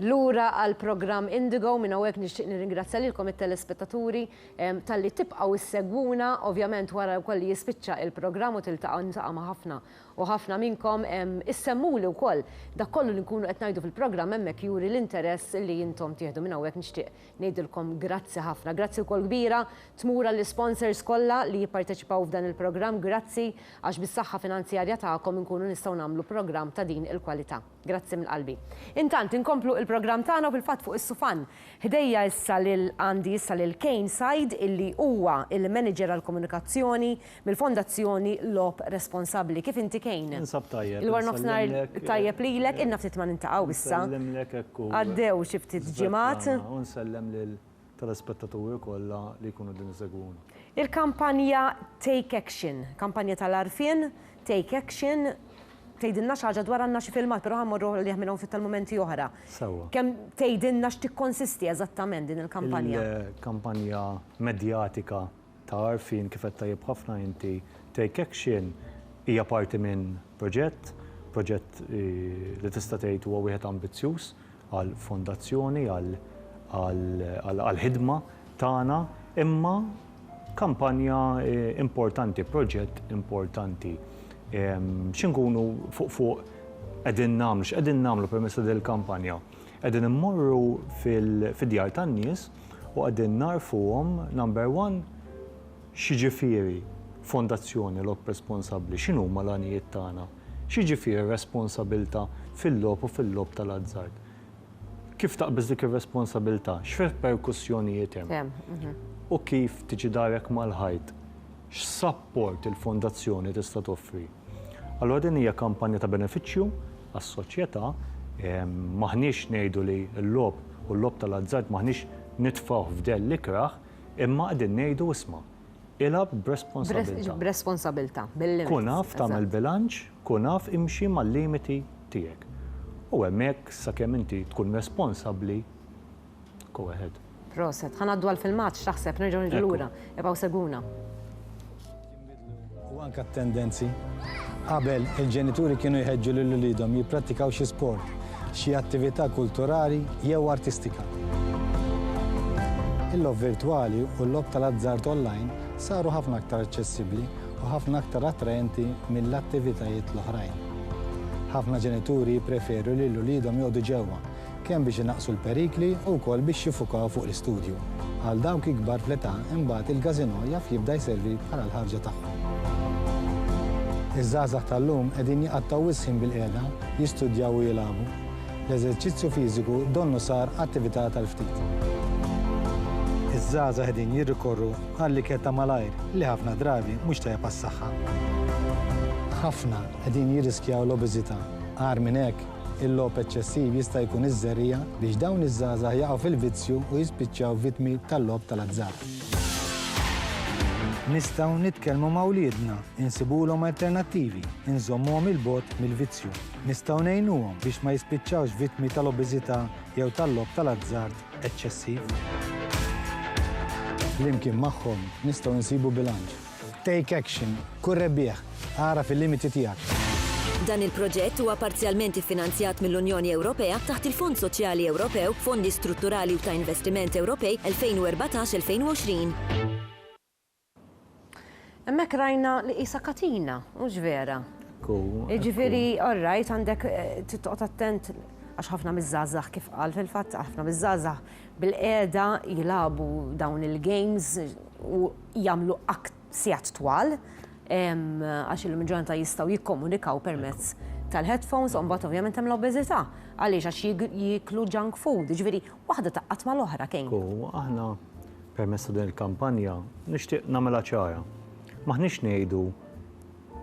Lura għall-programm Indigo, minn hawnhekk nixtieq nirringrazzja lilkom it-telespettaturi talli tibqgħu ssegwuna, ovvjament wara wkoll li jispiċċa il-programm u tiltaqgħu niltaqa' ma' ħafna u ħafna minnkom, issemmuli wkoll dak kollu li nkunu qed ngħidu fil-programm hemmhekk juri l-interess li intom tieħdu minn hawnhekk nixtieq Ngħidilkom grazzi ħafna. Grazzi wkoll kbira tmur għall-isponsors kollha li jipparteċipaw f'dan il-programm. Grazzi għax bis-saħħa finanzjarja tagħkom inkunu nistgħu nagħmlu programm ta' din il-kwalità. Grazzi minn qalbi. Intant inkomplu il-programm tagħna u fil-fatt fuq is-sufan ħdejja issa lil għandi issa lil Kane Said illi huwa il-Manager għall-Komunikazzjoni Mill-Fondazzjoni Logħob Responsabbli. Kif inti Kane? Ninsab tajjeb. Il-warnofsinhar tajjeb lilek, ilna ftit ma niltaqgħu issa. Nsellimlek hekk u. Għaddew xi ftit ġimgħat. U nsellem lill-telespettaturi kollha li jkunu qegħdin isegwuna. Il-kampanja Take Action, kampanja tal-għarfien, Take Action, tgħidilna xi ħaġa dwar għandna xi filmat però ħa mmorru għalih minn hawn ftit tal-mumenti oħra. Sewwa. Kemm tgħidilna x'tikkonsisti eżattament din il-kampanja? Il-kampanja medjatika ta' għarfien kif qed tajjeb ħafna inti, take action hija parti minn proġett, proġett li tista' tgħid huwa wieħed ambizzjuż għal fondazzjoni, għall-ħidma tagħna, imma kampanja importanti, proġett importanti. X'inkunu fuq fuq qegħdin nagħmlu, x'qegħdin nagħmlu permezz ta' din il-kampanja? Qegħdin immorru fid-djar tan-nies, u qegħdin ngħarrfuhom number one x'jiġifieri fondazzjoni logħob responsabbli, x'inhuma l-għanijiet tagħna, x'jiġifieri r-responsabilità fil-logħob u fil-logħob tal-azzard. Kif taqbeż dik ir-responsabilità, x'reperkussjonijiet hemm u kif tiġi darek mal-ħajt. X'sapport il-Fondazzjoni tista' toffri? Allura din hija kampanja ta' benefiċċju għas-soċjetà. M'aħniex ngħidu li l-logħob u l-logħob tal-azzard m'aħniex nitfgħuh f'dell l-ikrah, imma qegħdin ngħidu isma', ilgħab b'responsabbiltà. B'responsabbiltà, bil-limits. Kun af tagħmel bilanċ, kun af imxi mal-limiti tiegħek. U hemmhekk sakemm inti tkun responsabbli, Go ahead. Proset, ħa ngħaddu għall-filmat x'taħseb nerġgħu niġu lura. Ibqgħu segwuna. U anke t-tendenzi. Qabel il-ġenituri kienu jħeġġu lil uliedhom jipprattikaw xi sport, xi attività kulturali jew artistika. Il-lob virtwali u l-lob tal-azzard online saru ħafna aktar aċċessibbli u ħafna aktar attraenti mill-attivitajiet l-oħrajn. Ħafna ġenituri jippreferu li l-uliedhom jgħodu ġewwa kemm biex inaqqsu l-perikli u wkoll biex jiffukaw fuq l-istudju. Għal dawk ikbar fl-età, imbagħad il-każinò jaf jibda jservi bħala l-ħarġa tagħhom. Iż-żgħażagħ tal-lum qegħdin jqattgħu wisq ħin bilqiegħda, jistudjaw u jilagħbu. L-eżerċizzju fiżiku donnu sar attività tal-ftit. Iż-żgħażagħ qegħdin jirrikorru għall-ikel ta' malajr li ħafna drabi mhux tajjeb għas-saħħa. Ħafna qegħdin jirriskjaw l-obeżità. Agħar minn hekk, Il-logħob eċċessiv jista' jkun iż-żerriegħa biex dawn iż-żgħażagħ jaqgħu fil-vizzju u jispiċċaw vittmi tal-logħob tal-azzard. Nistgħu nitkellmu ma' wliedna, insibulhom alternattivi, inżommuhom 'il bogħod mill-vizzju. Nistgħu ngħinuhom biex ma jispiċċawx vittmi tal-obeżità jew tal-logħob tal-azzard eċċessiv. Flimkien magħhom nistgħu nsibu bilanċ Take action. Kun rebbieħ. Agħraf il-limiti tiegħek. Dan il-proġett huwa parzjalment iffinanzjat mill-Unjoni Ewropea taħt il-Fond Soċjali Ewropew, Fondi Strutturali u ta' Investiment Ewropej 2014-2020. Hemmhekk rajna li qisha katina, hux vera? Ekku. Jiġifieri alright għandek trid toqgħod attent għax ħafna miż-żgħażagħ kif qal fil-fatt ħafna miż-żgħażagħ bil-qiegħda jilagħbu dawn il-games u jagħmlu sigħat twal għax illum il-ġurnata jistgħu jikkomunikaw permezz tal-headphones u mbagħad ovvjament hemm l-obeżità għaliex għax jiklu junk food, ġifieri waħda taqqat mal-oħra kejn. U aħna permezz ta' din il-kampanja nixtieq nagħmilha ċara. M'aħniex ngħidu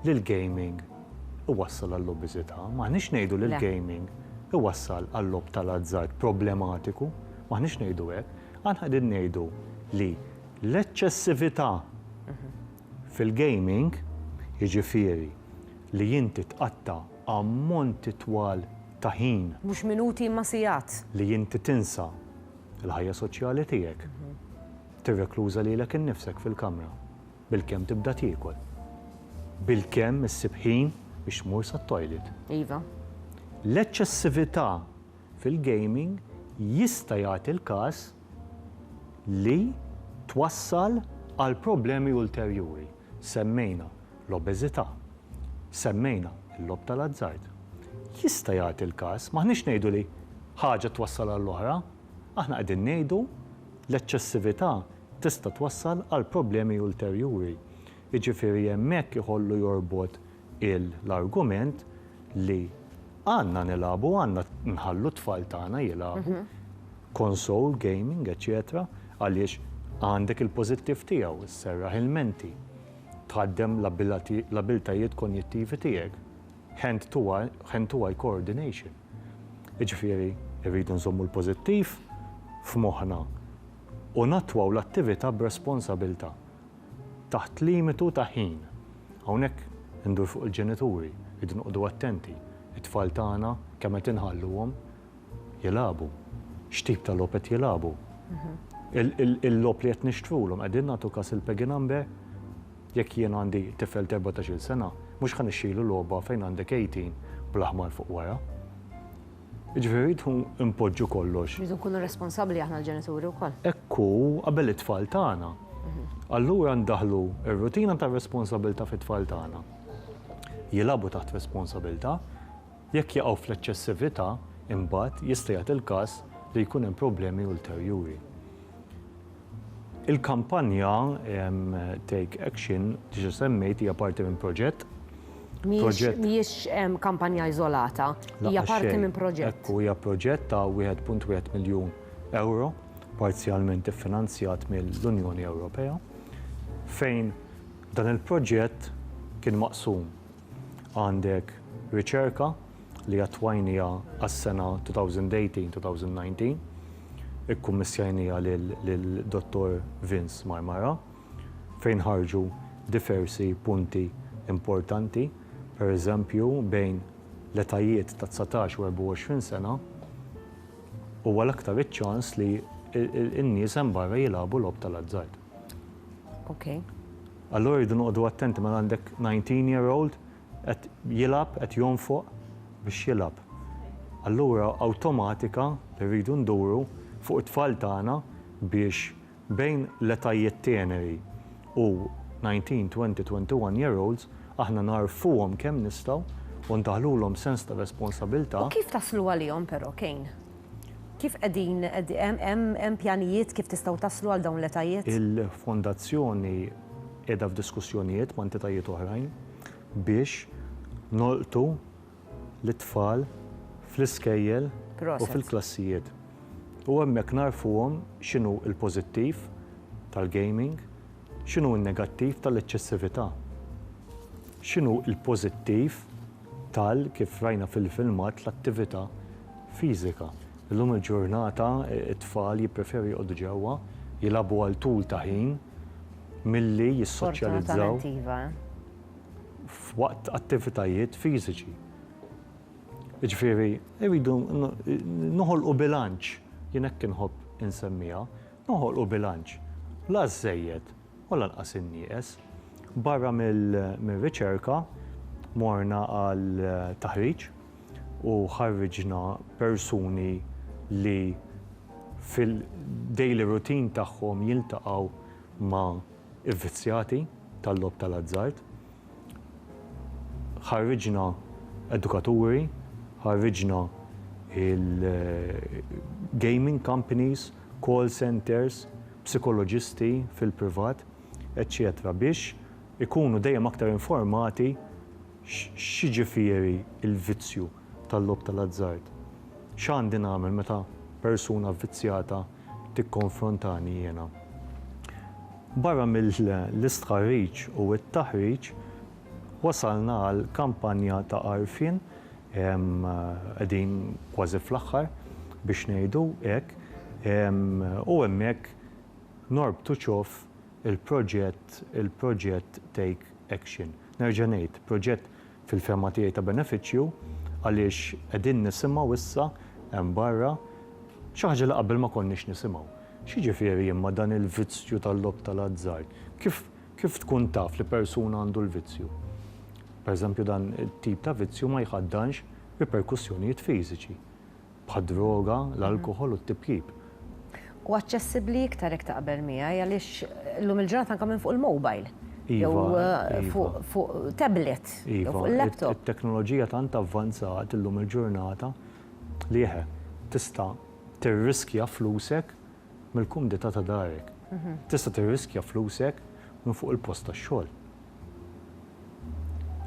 li l-gaming iwassal għall-obeżità, m'aħniex ngħidu li l-gaming iwassal għal-logħob tal-azzard problematiku, m'aħniex ngħidu hekk. Aħna qegħdin ngħidu li l-eċċessività fil-gaming, jiġifieri li inti tqatta' ammonti twal ta' ħin. Mhux minuti imma sigħat. Li inti tinsa l-ħajja soċjali tiegħek, tirrekluża lilek innifsek fil-kamra. Bilkemm tibda tiekol. Bilkemm issib ħin biex tmur sat-toilet. Iva. L-eċċessività fil-gaming jista' jagħti l-każ li twassal għal problemi ulterjuri. Semmejna l-obeżità. Semmejna l-logħob tal-azzard. Jista' jagħti l-każ, m'aħniex ngħidu li ħaġa twassal għall-oħra, aħna qegħdin ngħidu l-eċċessività tista' twassal għal problemi ulterjuri. Jiġifieri hemmhekk iħollu jorbot l-argument li għandna nilagħbu, għandna nħallu t-tfal tagħna jilagħbu, console gaming, eċċetera, għaliex għandek il-pożittiv tiegħu, isserraħ il-menti, tħaddem l-abbiltajiet konjittivi tiegħek, hand to eye, hand to eye coordination. Jiġifieri rridu nżommu l-pożittiv f'moħħna. u nattwaw l-attività b'responsabilità taħt limitu ta' ħin. Hawnhekk indur fuq il-ġenituri, irridu noqogħdu attenti, it-tfal tagħna kemm qed inħalluhom jilagħbu, x'tip ta' logħob qed jilagħbu, il-logħob li qed nixtrulhom, qegħdin nagħtu kas il-peggy number? Jekk jien għandi tifel ta' erbatax-il sena, mhux ħa nixtrilu logħba fejn għandek 18 bl-aħmar fuq wara. Jiġifieri rridu npoġġu kollox. Rridu nkunu responsabbli aħna l-ġenituri wkoll. Hekk hu qabel it-tfal tagħna. Allura ndaħħlu r-rutina tar-responsabbiltà fit-tfal tagħna. Jilagħbu taħt responsabbiltà. Jekk jaqgħu fl-eċċessività, imbagħad jista' jagħti l-każ li jkun hemm problemi ulterjuri. Il-kampanja Take Action, diġa semmejt, hija parti minn proġett. Mhijiex kampanja iżolata, hija parti minn proġett. Ekku, hija proġett ta' 1.1 miljun ewro, parzjalment iffinanzjat mill-Unjoni Ewropea, fejn dan il-proġett kien maqsum Għandek riċerka li attwajnija għas-sena 2018-2019, ikkummissjajnija lil Dottor Vince Marmara, fejn ħarġu diversi punti importanti, pereżempju bejn l-etajiet ta' dsatax u 24 sena huwa l-aktar iċ-ċans li n-nies hemm barra jilagħbu logħob tal-azzard. Okay. Allura rridu noqogħdu attenti mela għandek 19 year old qed jilab, qed jonfoq biex jilab. Allura awtomatika rridu nduru fuq it-tfal tagħna biex bejn l-etajiet teneri u 19, 20, 21 year olds aħna nagħrfuhom kemm nistgħu u ndaħħlulhom sens ta' responsabilità. U kif taslu għalihom però, Kane? Kif qegħdin, hemm pjanijiet kif tistgħu taslu għal dawn l-etajiet? Il-Fondazzjoni qiegħda f'diskussjonijiet ma' entitajiet oħrajn biex nolqtu lit-tfal fl-iskejjel u fil-klassijiet u hemmhekk ngħarrfuhom x'inhu l-pożittiv tal-gaming, x'inhu n-negattiv tal-eċċessività, x'inhu l-pożittiv tal, kif rajna fil-filmat, l-attività fiżika. Illum il-ġurnata t-tfal jippreferu joqogħdu ġewwa, jilagħbu għal tul ta' ħin milli jissoċjalizzaw f'waqt attivitajiet fiżiċi. Jiġifieri rridu noħolqu bilanċ, jien hekk inħobb insemmiha, noħolqu bilanċ, la żżejjed u lanqas in-nieqes. Barra mir-riċerka morna għal taħriġ u ħarriġna persuni li fil-daily routine tagħhom jiltaqgħu ma' ivvizzjati tal-logħob tal-azzard. Ħarriġna edukaturi, ħarriġna il-gaming companies, call centres, psikoloġisti fil-privat, eċċetera biex ikunu dejjem aktar informati x'jiġifieri l-vizzju tal-logħob tal-azzard. X'għandi nagħmel meta persuna vvizzjata tikkonfrontani jiena? Barra mill-istħarriġ u t-taħriġ, Wasalna għal kampanja ta' għarfien, qegħdin kważi fl-aħħar biex ngħidu hekk, u hemmhekk norbtu ċof il-proġett il-proġett Take Action. Nerġa' ngħid, proġett fil-fehma tiegħi ta' benefiċċju għaliex qegħdin nisimgħu issa hemm barra xi ħaġa li qabel ma konniex nisimgħu. X'jiġifieri imma dan il-vizzju tal-logħob tal-azzard? Kif Kif tkun taf li persuna għandu l-vizzju? Pereżempju, dan it-tip ta' vizzju ma jħaddanx riperkussjonijiet fiżiċi, bħad-droga, l-alkoħol u t-tipjip. Hu aċċessibbli iktar jekk taqbel miegħi għaliex illum il-ġurnata anke minn fuq il-mobile jew fuq tablet jew fuq il-laptop. Iva, it-teknoloġija tant avvanzat illum il-ġurnata li eħe, tista' tirriskja flusek mill-kumdità ta' darek. Tista' tirriskja flusek minn fuq il-post tax-xogħol.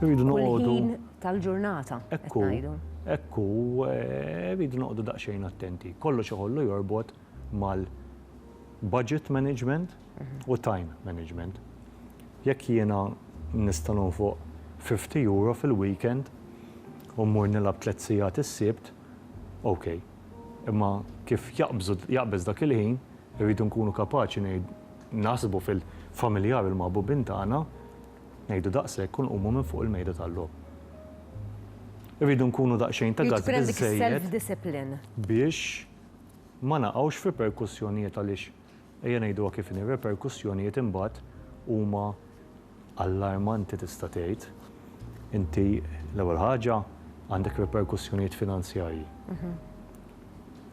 Irridu noqogħdu. Kull ħin tal-ġurnata qed ngħidu. Hekk hu, irridu noqogħdu daqsxejn attenti. Kollox iħollu jorbot mal-budget management u time management. Jekk jiena nista' nonfoq fifty euro fil-weekend u mmur nilgħab tliet sigħat is-Sibt, ok. Imma kif jaqbżu, jaqbeż dak il-ħin, irridu nkunu kapaċi ngħid, naħsbu fil-familjari l-maħbubin tagħna, ngħidu daqshekk u nqumu minn fuq il-mejda tal-logħob. Irridu nkunu daqsxejn ta' gazz biżżejjed biex ma naqgħux f'riperkussjonijiet għaliex Ejja ngħiduha kif inhi, r-reperkussjonijiet imbagħad huma allarmanti tista' tgħid. Inti l-ewwel ħaġa għandek reperkussjonijiet finanzjarji,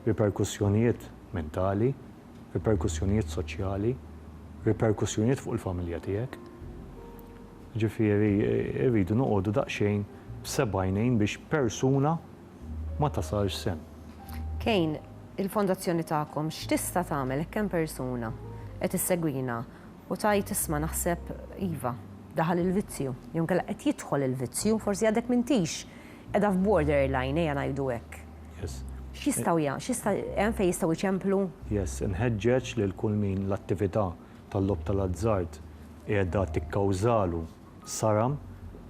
reperkussjonijiet mentali, reperkussjonijiet soċjali, reperkussjonijiet fuq il-familja tiegħek. Ġifieri rridu noqogħdu daqsxejn b'sebgħajnejn biex persuna, ma tasalx sehem. Kane, il-fondazzjoni tagħkom x'tista' tagħmel hekk hemm persuna qed issegwina u tgħid isma' naħseb iva, daħal il-vizzju, jew inkella qed jidħol il-vizzju, forsi għadek m'intix qiegħda f'borderline ejja ngħidu hekk. Yes. X'jistgħu ja, x'jista' hemm fejn jistgħu jċemplu? Yes, inħeġġeġ lil kull min l-attività tal-logħob tal-azzard qiegħda tikkawżalu saram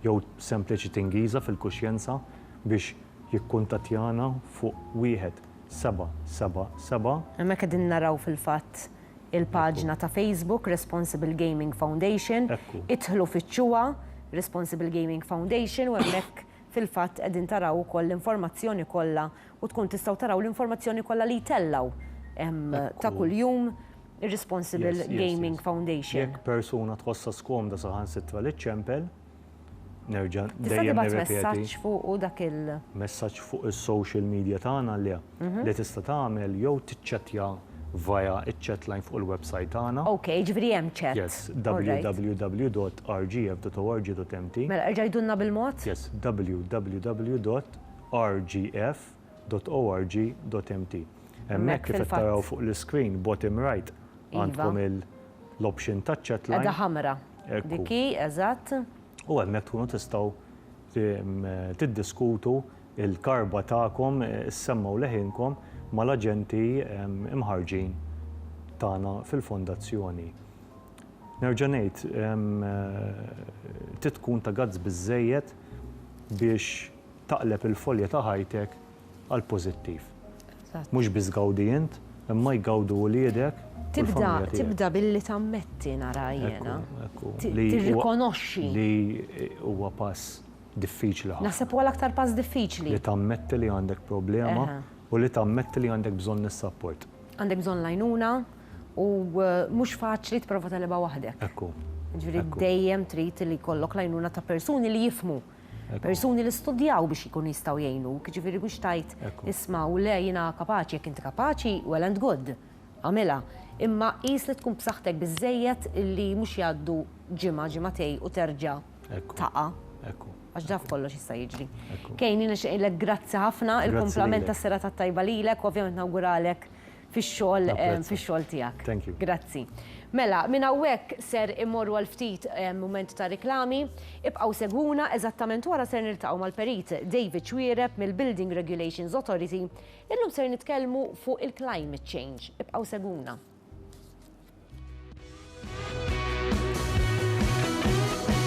jew sempliċi tingiża fil-kuxjenza biex jikkuntattjana fuq wieħed seba' seba' seba'. Hemmhekk qegħdin naraw fil-fatt il-paġna ta' Facebook Responsible Gaming Foundation. Idħlu fittxuha Responsible Gaming Foundation u hemmhekk fil-fatt qegħdin taraw ukoll l-informazzjoni kollha u tkun tistgħu taraw l-informazzjoni kollha li jtellgħu ta' kuljum. ir-Responsible Gaming Foundation. Jekk persuna tħossha skomda saħansitra li ċċempel, nerġa' dejjem nirrepeti. Tista' tibgħat messaġġ fuqu dak il. Messaġġ fuq is-social media tagħna le. Li tista' tagħmel jew tiċċettja via ċ-chat line fuq il-websajt tagħna. Ok, jiġifieri hemm chat. Yes, www.rgf.org.mt. Mela erġa' għidulna bil-mod? Yes, www.rgf.org.mt. www.ecomagazine.org.mt Hemmhekk kif qed taraw fuq l-iscreen bottom right għandkom l-option ta' chatline. Qiegħda ħamra. Dik hi, eżatt. U hemmhekk tkunu tistgħu tiddiskutu l-karba tagħkom, issemmgħu leħinkom mal-aġenti mħarrġin tagħna fil-Fondazzjoni. Nerġa' ngħid, trid tkun ta' guts biżżejjed biex taqleb il-folja ta' ħajtek għall-pożittiv. Mhux biss gawdi int, imma jgawdu wliedek u l-familja tiegħek. Tibda billi tammetti nara jiena. Tirrikonoxxi. Li huwa pass diffiċli ħafna. Naħseb huwa l-aktar pass diffiċli. Li tammetti li għandek problema u li tammetti li għandek bżonn is-sapport. Għandek bżonn l-għajnuna u mhux faċli tipprova tegħlibha waħdek. Ekku. Jiġifieri dejjem trid li jkollok l-għajnuna ta' persuni li jifhmu. Persuni li studjaw biex jkunu jistgħu jgħinuk, ġifieri mhux tajt isma' u le jiena kapaċi jekk inti kapaċi well and good, għamilha. Imma qis li tkun b'saħħtek biżżejjed li mhux jgħaddu ġimgħa, ġimgħatej u terġa' taqa'. Għax dak kollox jista' jiġri. Kane, jiena nixtieq ngħidlek grazzi ħafna, il-kumplament tas-serata t-tajba lilek u ovvjament nawguralek fix-xogħol fix-xogħol tiegħek. Thank you. Grazzi. Mela, minn hawnhekk ser immorru għal ftit mument ta' riklami. Ibqgħu segwuna, eżattament wara ser niltaqgħu mal-Perit David Xuereb mill-Building Regulations Authority. Illum ser nitkellmu fuq il-climate change. Ibqgħu segwuna.